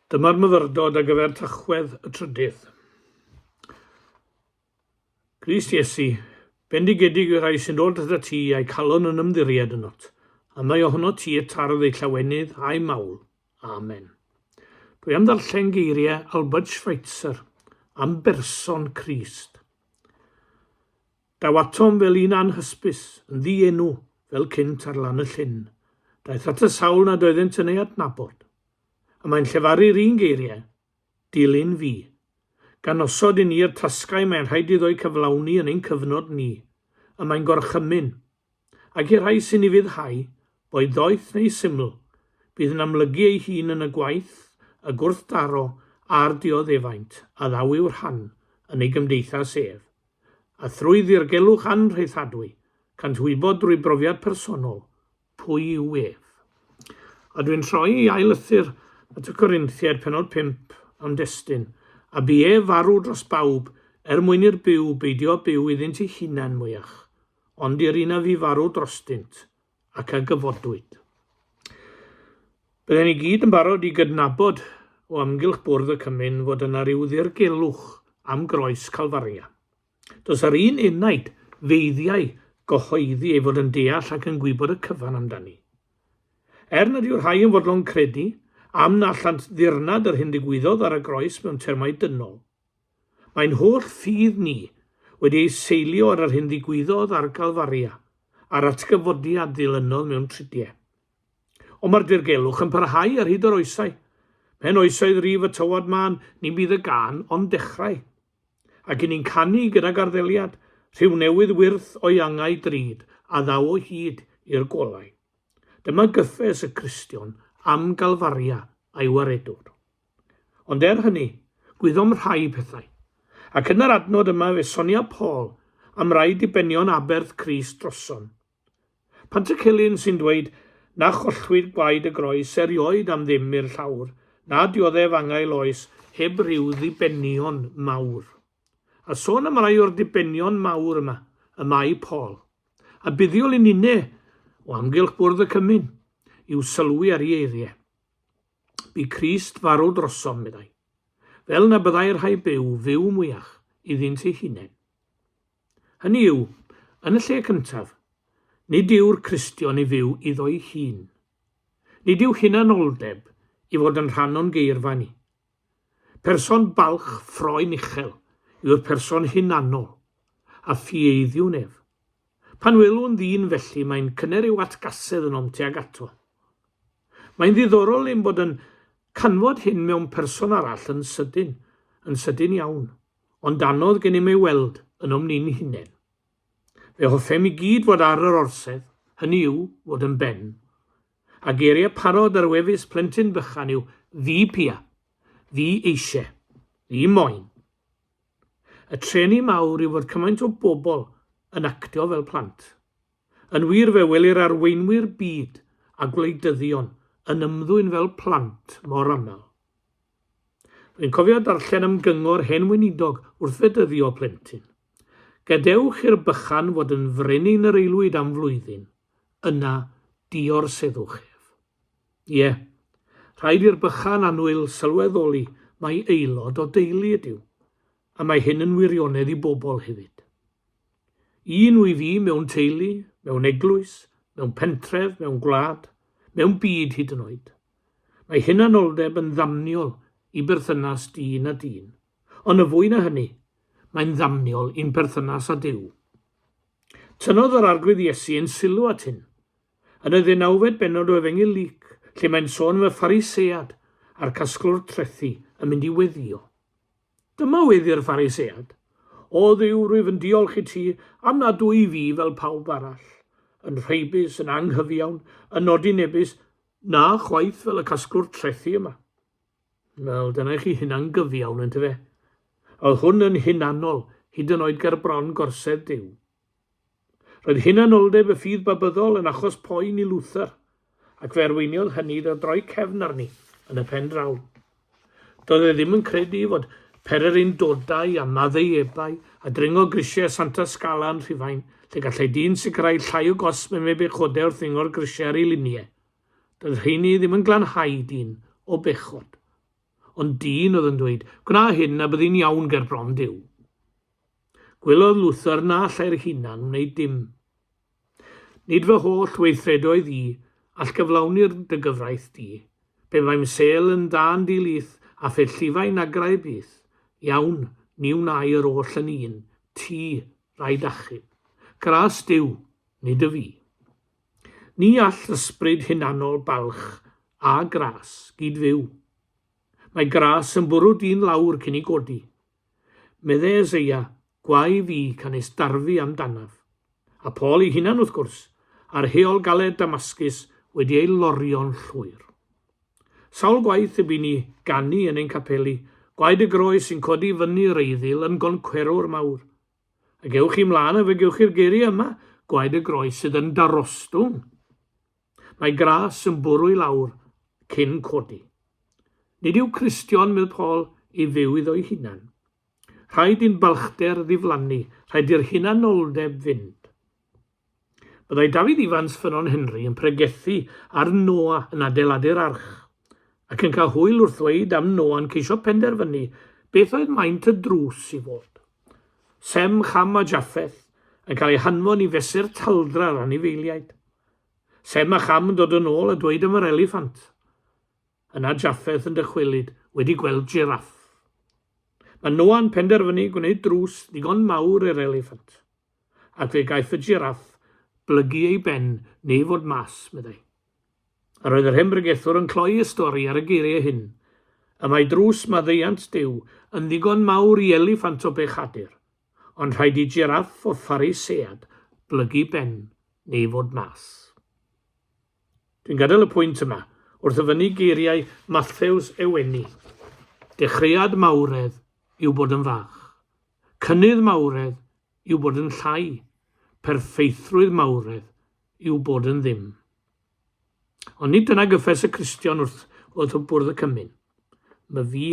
Dyma'r myfyrdod ar gyfer Tachwedd y Trydydd. Grist Iesu, bendigedig y rhai sy'n dod at y ti a'i calon yn ymddiried ynot, a mae ohono ti y tardd ei llawenydd a'i mawl. Amen. Dwi am ddarllen geiriau Albert Schweitzer am berson Crist. Daw atom fel un anhysbys, yn ddi-enw, fel cynt ar lan y llyn. Daeth at y sawl nad oeddent yn ei adnabod. A mae'n llefaru'r un geiriau, Dilyn fi. Gan osod i ni yr tasgau mae'n rhaid iddo'u cyflawni yn ein cyfnod ni. Y mae'n gorchymyn, Ac i'r rhai sy'n ufuddhau, boed ddoeth neu syml, bydd yn amlygu ei hun yn y gwaith, y gwrthdaro a'r dioddefaint a ddaw i'w rhan yn ei gymdeithas ef. A thrwy ddirgelwch anrhaethadwy, cânt wybod drwy brofiad personol pwy yw ef. A dwi'n troi i ail lythyr at y Corinthiaid, penod 5, am destun, a bu ef farw dros bawb, er mwyn i'r byw beidio â byw iddynt eu hunain mwyach. ond i'r un a fu farw drostynt, ac a gyfodwyd. Byddem i gyd yn barod i gydnabod o amgylch bwrdd y cymun fod yna rhyw ddirgelwch am groes Calfaria. Does yr un enaid feiddiau gyhoeddi ei fod yn deall ac yn gwybod y cyfan amdani. Er nad yw'r rhai yn fodlon credu am na allant ddirnad yr hyn ddigwyddodd ar y groes mewn termau dynol, Mae'n holl ffydd ni wedi ei seilio ar yr hyn ddigwyddodd ar Galfaria, a'r atgyfodiad ddilynnodd mewn trudie. Ond mae'r dirgelwch yn parhau ar hyd yr oesau. Pen oesoedd rif y tywod mân, ni bydd y gân ond dechrau. Ac i ni'n canu gyda garddeliad, rhyw newydd wyrth o'i angau drud, a ddaw o hyd i'r golau. Dyma gyffes y Cristion am Galfaria a'i waredwr. Ond er hynny, gwyddom rhai pethau. Ac yn yr adnod yma fe sonia Paul am rai dibenion aberth Crist drosom. Pantycelyn sy'n dweud na chollwyd gwaed y groes erioed am ddim i'r llawr, na dioddef angael oes heb ryw ddibenion mawr. A sôn am rai o'r dibenion mawr yma, y mae Paul, a buddiol i ninne o amgylch bwrdd y cymun, i'w sylwi ar i eiriau. Bu Crist farw drosom, meddai, fel na byddai rhai byw fyw mwyach iddynt eu hunain. Hynny yw, yn y lle cyntaf, nid yw'r Cristion i fyw iddo'i hun. Nid yw hunanoldeb i fod yn rhan o'n geirfa ni. Person balch ffroen uchel yw'r person hunanol, a phieiddiwn ef. Pan welwn ddyn felly mae'n cyner i'w atgasedd yn om tuag ato. Mae'n ddiddorol ein bod yn canfod hyn mewn person arall yn sydyn, yn sydyn iawn, ond anodd gennym ei weld ynom ni'n hunain. Fe hoffem i gyd fod ar yr orsedd, hynny yw, fod yn ben. A geiriau parod ar wefus plentyn bychan yw ddi pia, ddi eisiau, ddi moyn. Y trueni mawr yw fod cymaint o bobl yn actio fel plant. Yn wir, fe welir arweinwyr byd a gwleidyddion yn ymddwyn fel plant mor aml. Rwy'n cofio darllen am gyngor hen weinidog wrth fedyddio plentyn. Gadewch i'r bychan fod yn frenin yr aelwyd am flwyddyn, yna diorseddwch ef. Ie, rhaid i'r bychan annwyl sylweddoli mai aelod o deulu ydyw, a mae hyn yn wirionedd i bobl hefyd. Un wyf fi mewn teulu, mewn eglwys, mewn pentref, mewn gwlad, mewn byd hyd yn oed. Mae hunanoldeb yn ddamniol i berthynas dyn a dyn, ond yn fwy na hynny, mae'n ddamniol i'n perthynas â Duw. Tynnodd yr Arglwydd Iesu ein sylw at hyn, Yn y ddeunawfed bennod o Efengyl Luc, lle mae'n sôn am y Pharisead a'r casglwr trethi yn mynd i weddïo. Dyma weddi'r Pharisead, O Dduw, rwyf yn diolch i ti am nad dw i fi fel pawb arall, yn rheibus, yn anghyfiawn, yn nodinebus, na chwaith fel y casglwr trethi yma. Wel, dyna i chi hunan gyfiawn, yntyfe? Oedd hwn yn hunanol, hyd yn oed ger bron gorsedd Duw. Roedd hunanoldeb y ffydd Babyddol yn achos poen i Luther, ac fe arweiniodd hynny iddo droi cefn arni yn y pen draw. Doedd e ddim yn credu fod pererindodau a maddeuebau a dringo grisiau Santa Scala yn Rhufain, lle gallai dyn sicrhau llai o gosb yn ei bechode wrth ddringo'r grisiau ar ei liniau. Doedd rheiny ddim yn glanhau dyn o bechod. Ond dyn oedd yn dweud, Gwna hyn a byddi'n iawn ger bron Duw. Gwelodd Luther na allai'r ei hunan wneud dim. Nid fy holl weithredoedd i, all gyflawni'r dy gyfraith di. Pe baem sel yn dda'n di-lith, a phe llifai nagrau byth. Iawn, ni wnai yr oll yn un, ti, rhaid achub. Gras Duw, nid y fi. Ni all ysbryd hunanol balch a gras gyd-fyw. Mae gras yn bwrw dyn lawr cyn ei godi. Medde Eseia, Gwae fi, canys darfu amdanaf. A Paul ei hunan, wrth gwrs, a'r heol galed Damascus wedi ei lorio'n llwyr. Sawl gwaith y bu ni ganu yn ein capeli, Gwaed y Groes sy'n codi fyny reiddil yn goncwerwr mawr. Ac ewch chi mlaen a fe gewch chi'r geiriau yma, gwaed y groes sydd yn darostwng. Mae gras yn bwrw i lawr cyn codi. Nid yw Cristion, medd Paul, i fyw iddo'i hunan. Rhaid i'n balchder ddiflannu, rhaid i'r hunanoldeb fynd. Byddai Dafydd Ifans Ffynnon Henry yn pregethu ar Noa yn adeiladu'r arch, ac yn cael hwyl wrth ddweud am Noa'n ceisio penderfynu beth oedd maint y drws i fod. Sem, Cham a Jaffeth yn cael eu hanfon i fesur talddra'r anifeiliaid. Sem a Cham yn dod yn ôl a dweud am yr eliffant. Yna Jaffeth yn dychwelyd wedi gweld jiraff. Mae Noa'n penderfynu gwneud drws ddigon mawr i'r eliffant. ac fe gaiff y jiraff blygu ei ben neu fod mas, meddai. Yr oedd yr hen bregethwr yn cloi y stori ar y geiriau hyn, Y mae drws maddeuant Duw yn ddigon mawr i eliffant o bechadur, ond rhaid i jiraff o Pharisead blygu ben neu fod mas. Dwi'n gadael y pwynt yma, wrth ddyfynnu geiriau Mathews Ewenni, Dechreuad mawredd yw bod yn fach. Cynnydd mawredd yw bod yn llai. Perffeithrwydd mawredd yw bod yn ddim. Ond nid dyna gyffes y Cristion wrth wrth y bwrdd y cymyn. Myfi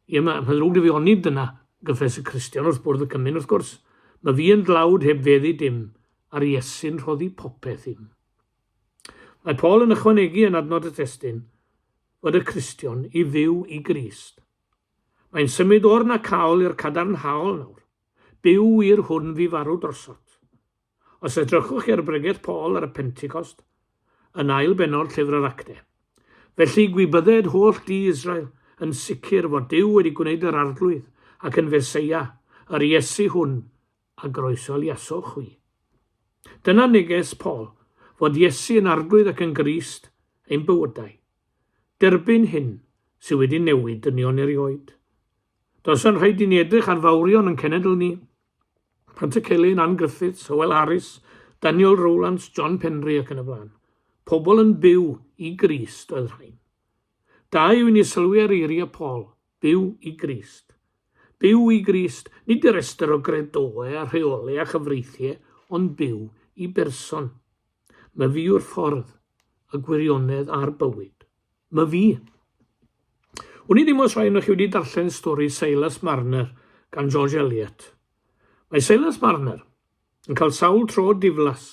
Ie, mae ma ddrwg 'da fi onid dyna gyffes y Cristion wrth bwrdd y cymun, wrth gwrs. Mae fi yn dlawd heb feddu dim, a'r Iesu'n rhoddi popeth i'm. Mae Paul yn ychwanegu yn adnod y testyn fod y Cristion i fyw i Grist. Mae'n symud o'r na caol i'r cadarnhaol nawr. Byw wir hwn fi farw drosot. Os edrychwch chi ar bregeth Paul ar y Pentecost, yn ail benod llyfr yr Acte, Felly gwybydded holl di Israel yn sicr fod Dyw wedi gwneud yr Arglwydd ac yn Feseia, yr Iesu hwn, a groesoliasoch chwi. Dyna neges Paul, fod Iesu yn Arglwydd ac yn Grist ein bywydau. Derbyn hyn sydd wedi newid dynion erioed. Does yn rhaid i ni edrych ar fawrion yn cenedl ni. Pant y Celyn, Ann Griffiths, Hywel Harris, Daniel Rowlands, John Penry ac yn y blaen. Pobl yn byw i Grist oedd rhain. Da yw i ni sylwi ar eiriau Paul, byw i Grist. Byw i Grist, nid y restr o gredoau a rheolau a chyfreithiau, ond byw i berson. My fi yw'r ffordd, y gwirionedd a'r bywyd. My fi. Wn i ddim os rhaid chi wedi darllen stori Silas Marner gan George Eliot. Mae Silas Marner yn cael sawl tro diflas,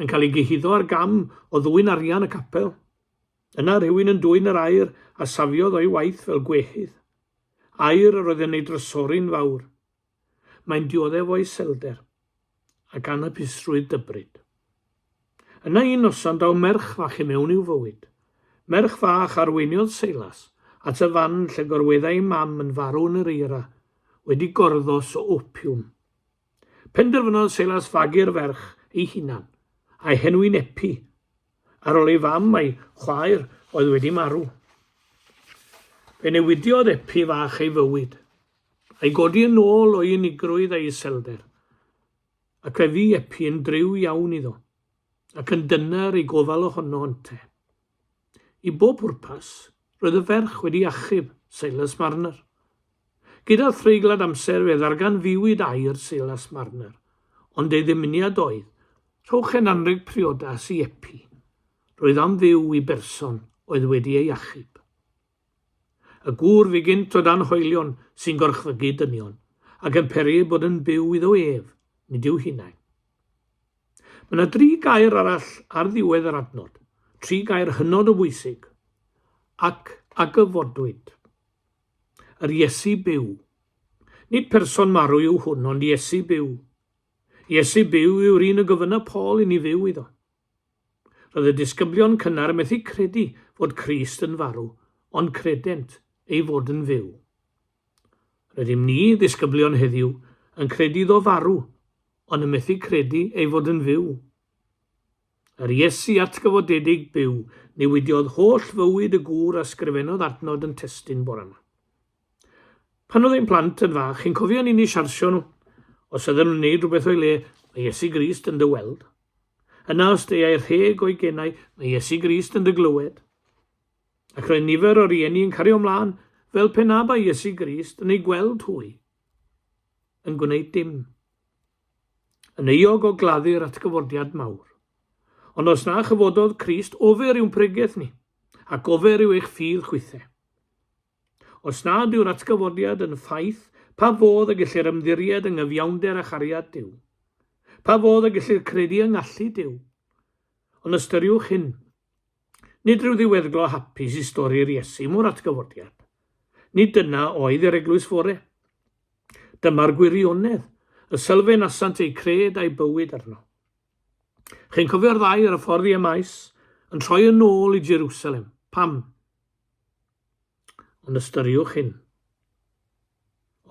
yn cael ei gyhuddo ar gam o ddwy'n arian y capel. Yna rhywun yn dwy'n yr air a safiodd o'i waith fel gwehydd. Air yr oedd yn ei drysori'n fawr, Mae'n dioddef o iselder, ac anhapusrwydd dybryd. Yna un noson daw merch fach i mewn i'w fywyd. Merch fach arweiniodd Seilas at y fan lle gorweddai'i mam yn farw yn yr eira, wedi gorddos o opiwm. Penderfynodd Seilas fagu'r ferch ei hunan, a'i henwi'n Epi, Ar ol ei fam a'i chwaer oedd wedi marw, fe newidiodd Epi fach ei fywyd, a'i godi yn ôl o'i unigrwydd a'i iselder, ac fe fu Epi yn driw iawn iddo, ac yn dyner i gofal ohono ynte. I bob pwrpas, roedd y ferch wedi achub Silas Marner. Gyda threiglad amser fe ddarganfuwyd air Silas Marner, ond ei ddymuniad oedd, rhowch hen anrheg priodas i Epi. Roedd am fyw i berson oedd wedi ei achub. Y gŵr fu gynt o dan hoelion sy'n gorchfygu dynion, ac yn peri eu bod yn byw iddo ef, nid i'w hunain. Mae yna dri gair arall ar ddiwedd yr adnod, tri gair hynod o bwysig, ac a gyfodwyd. Yr Iesu byw. Nid person marw yw hwn, ond Iesu byw. Iesu byw yw'r un y gofynna Paul i ni fyw iddo. Roedd y disgyblion cynnar yn methu credu fod Crist yn farw, ond credent ei fod yn fyw. Rydym ni, ddisgyblion heddiw, yn credu iddo farw, ond yn methu credu ei fod yn fyw. Yr Iesu atgyfodedig byw newidiodd holl fywyd y gŵr a sgrifennodd adnod yn testun bore yma. Pan oedd ein plant yn fach, chi'n cofio ni'n i siarsio nhw? Os ydyn nhw'n neud rhywbeth o'i le, mae Iesu Grist yn dy weld. Yna os deiau rheg o'i genau, mae Iesu Grist yn dy glywed. Ac roedd nifer o rieni yn cario ymlaen fel pe na bai Iesu Grist yn eu gweld hwy yn gwneud dim. Yn euog o gladdu'r atgyfordiad mawr. Ond os na chyfododd Crist, ofer yw'n pregeth ni, ac ofer yw eich ffydd chwithe. Os nad yw'r atgyfordiad yn ffaith, pa fodd y gellir ymddiried yng ngyfiawnder a chariad Duw? Pa fodd y gellir credu yng ngallu Duw? Ond ystyriwch hyn, Nid rhyw ddiweddglo hapus i stori'r Iesu mor atgyfodiad. Nid dyna oedd yr eglwys fore. Dyma'r gwirionedd, y sylfaen asant eu cred a'i bywyd arno. Chi'n cofio'r ddau ar y ffordd i Emaus, yn troi yn ôl i Jerusalem. Pam? Ond ystyriwch hyn,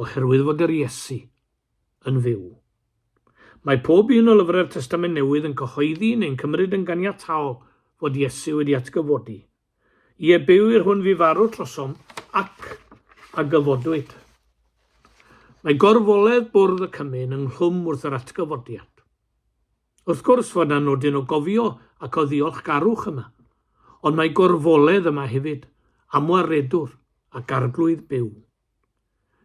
oherwydd fod yr Iesu yn fyw. Mae pob un o lyfrau'r Testament Newydd yn cyhoeddi neu'n cymryd yn ganiataol fod Iesu wedi atgyfodi. Ie, byw i'r hwn fu farw trosom ac a gyfodwyd. Mae gorfoledd bwrdd y cymun ynghlwm wrth yr atgyfodiad. Wrth gwrs fod 'na nodyn o gofio ac o ddiolchgarwch yma, ond mae gorfoledd yma hefyd am waredwr ac arglwydd byw.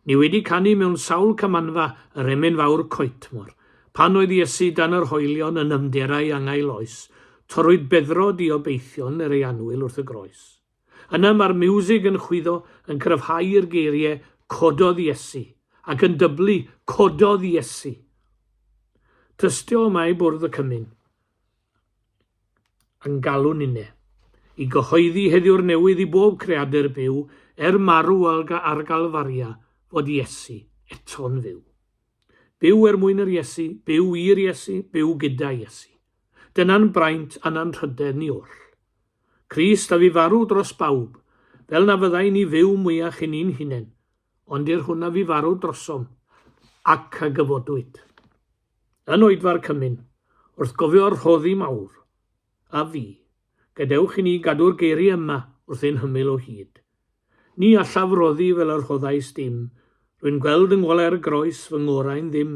Ni wedi canu mewn sawl camanfa yr emyn fawr coetmor, pan oedd Iesu dan yr hoelion yn nymder a'i angael oes, torrwyd beddrod i obeithion er ei anwyl wrth y groes. Yna mae'r miwsig yn chwyddo yn cryfhau i'r geirie Cododd Iesu! ac yn dyblu Cododd Iesu! Tystio yma i bwrdd y cymun yn galw ninne i gyhoeddi heddiw'r newydd i bob creadur byw er marw ar Galfaria fod Iesu eto'n fyw. Byw er mwyn yr Iesu, byw i'r Iesu, byw gyda Iesu. Dyna'n braint a'n anrhydedd ni oll. Crist a fu farw dros bawb, fel na fyddai ni fyw mwyach i ni'n hunain, ond i'r hwn a fu farw drosom, ac a gyfodwyd. Yn oedfa'r cymun, wrth gofio'r rhoddi mawr, a fu, gadewch i ni gadw'r geiri yma wrth ein hymyl o hyd. Ni allaf roddi fel y rhoddais dim, rwy'n gweld yng ngwalau'r groes fy ngorau'n ddim,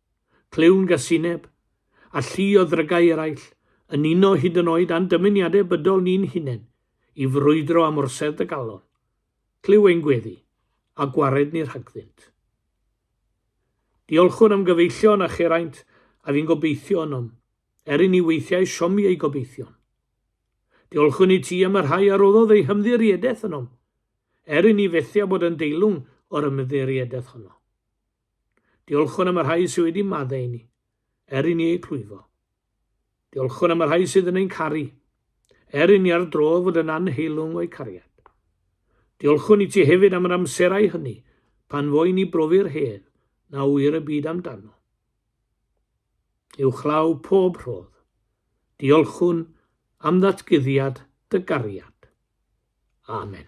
clywn gasineb, a llu o ddrygau eraill, yn uno hyd yn oed â'n dymuniadau bydol ni'n hunain i frwydro am orsedd y galon, clyw ein gweddi, a gwared ni rhagddynt. Diolchwn am gyfeillion a cheraint a fi'n gobeithio ynom, er i ni weithiau siomi ei gobeithion. Diolchwn i ti am y rhai a roddodd ei hymddiriedaeth ynom, er i ni fethu a bod yn deilwng o'r ymddiriedaeth honno. Diolchwn am y rhai sydd wedi maddau i ni, er i ni eu clwyfo. Diolchwn am y rhai sydd yn ein caru, er i ni ar dro fod yn anheilwng o'u cariad. Diolchwn i ti hefyd am yr amserau hynny pan fo i ni brofi'r hedd na ŵyr y byd amdano. Uwchlaw pob rhodd. Diolchwn am ddatguddiad dy gariad. Amen.